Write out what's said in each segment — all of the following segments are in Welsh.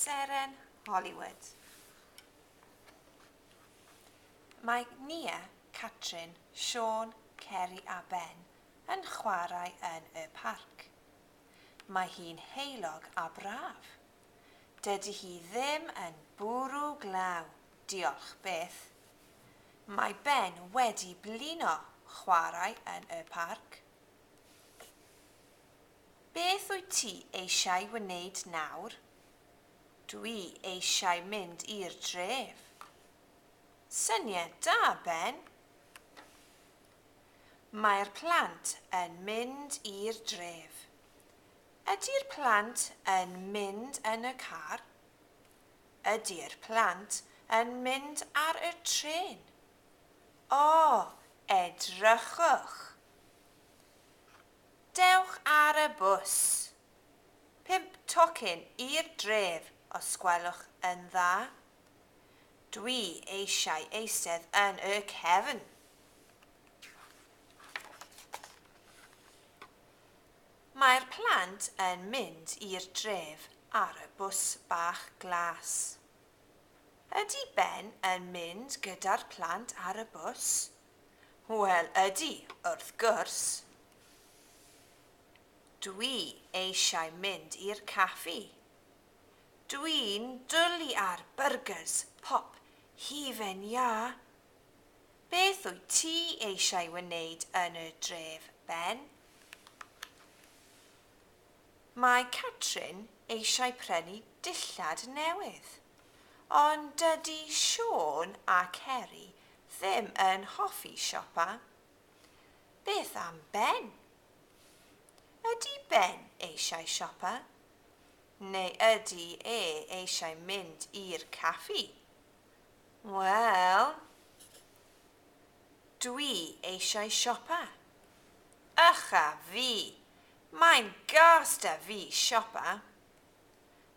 Seren Hollywood. Mae Nia, Catrin, Siôn, Ceri a Ben yn chwarae yn y parc. Mae hi'n heulog a braf. Dydy hi ddim yn bwrw glaw, diolch byth. Mae Ben wedi blino chwarae yn y parc. Beth wyt ti eisiau wneud nawr? Dw i eisiau mynd i'r dref. Syniad da, Ben! Mae'r plant yn mynd i'r dref. Ydy'r plant yn mynd yn y car? Ydy'r plant yn mynd ar y trên? O, edrychwch! Dewch ar y bws! Pump tocyn i'r dref os gwelwch yn dda. Dwi eisiau eistedd yn y cefn! Mae'r plant yn mynd i'r dref ar y bws bach glas. Ydy Ben yn mynd gyda'r plant ar y bws? Wel, ydy, wrth gwrs. Dwi eisiau mynd i'r caffi. Dwi'n dwli ar byrgyrs pop hufen iâ. Beth wyt ti eisiau wneud yn y dref, Ben? Mae Catrin eisiau prynu dillad newydd, ond dydy Siôn a Ceri ddim yn hoffi siopa. Beth am Ben? Ydy Ben eisiau siopa? Neu ydy e eisiau mynd i'r caffi? Wel, dwi eisiau siopa. Ych a fi, Mae'n gas 'da fi siopa.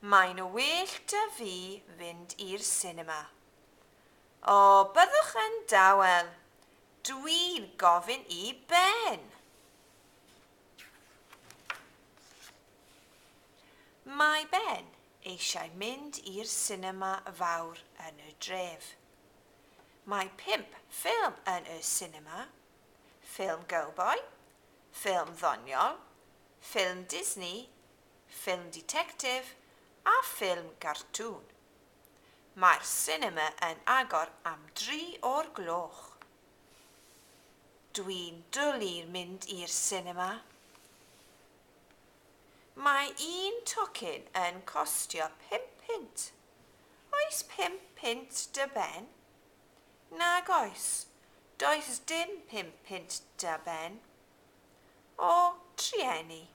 Mae'n well 'da fi fynd i'r sinema. O, byddwch yn dawel! Dwi'n gofyn i Ben! Mae Ben eisiau mynd i'r sinema fawr yn y dref. Mae pump ffilm yn y sinema. ffilm gowboi, ffilm ddoniol, ffilm Disney, ffilm ditectif a ffilm gartŵn. Mae'r sinema yn agor am dri o'r gloch. Dwi'n dwli mynd i'r sinema. Mae un tocyn yn costio pum punt. Oes pum punt dy ben? Nag oes, does dim pum punt da Ben. O, trueni.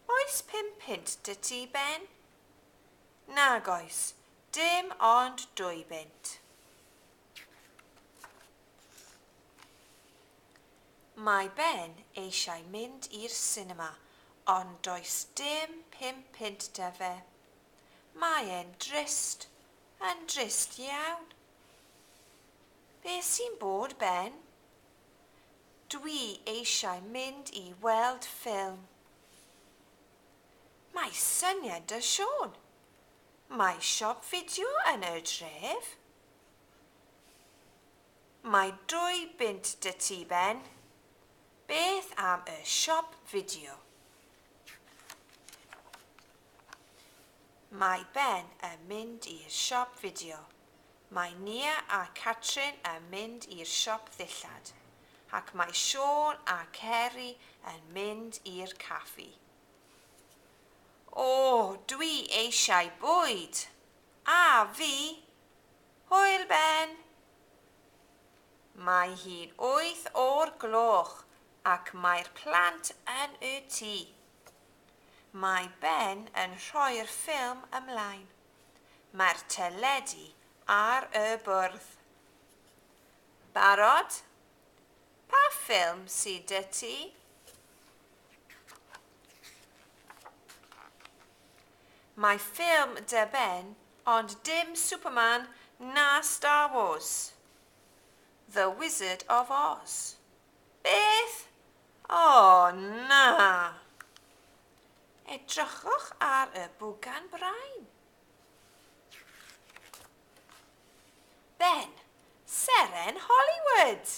Oes pum punt da ti, Ben? Nag oes, dim ond dwy bunt. Mae Ben eisiau mynd i'r sinema, ond does dim pum punt da fe. Mae e'n drist. Mae'n drist iawn. Be sy'n bod Ben? Dwi eisiau mynd i weld ffilm. Mae syniad da Siôn. Mae siop fideo yn y dref. Mae dwy bunt da ti Ben. Beth am y siop fideo? Mae Ben yn mynd i'r siop fideo. Mae Nia a Catrin yn mynd i'r siop ddillad. Ac mae Siôn a Ceri yn mynd i'r caffi. O, dwi eisiau bwyd! A fi! Hwyl, Ben! Mae hi'n wyth o'r gloch ac mae'r plant yn y tŷ. Mae Ben yn rhoi'r ffilm ymlaen. Mae'r teledu ar y bwrdd. Barod? Pa ffilm sy 'da ti? Mae ffilm 'da Ben, ond dim Superman na Star Wars. The Wizard of Oz. Beth? O, na! Edrychwch ar y bwgan brain. Ben, seren Hollywood!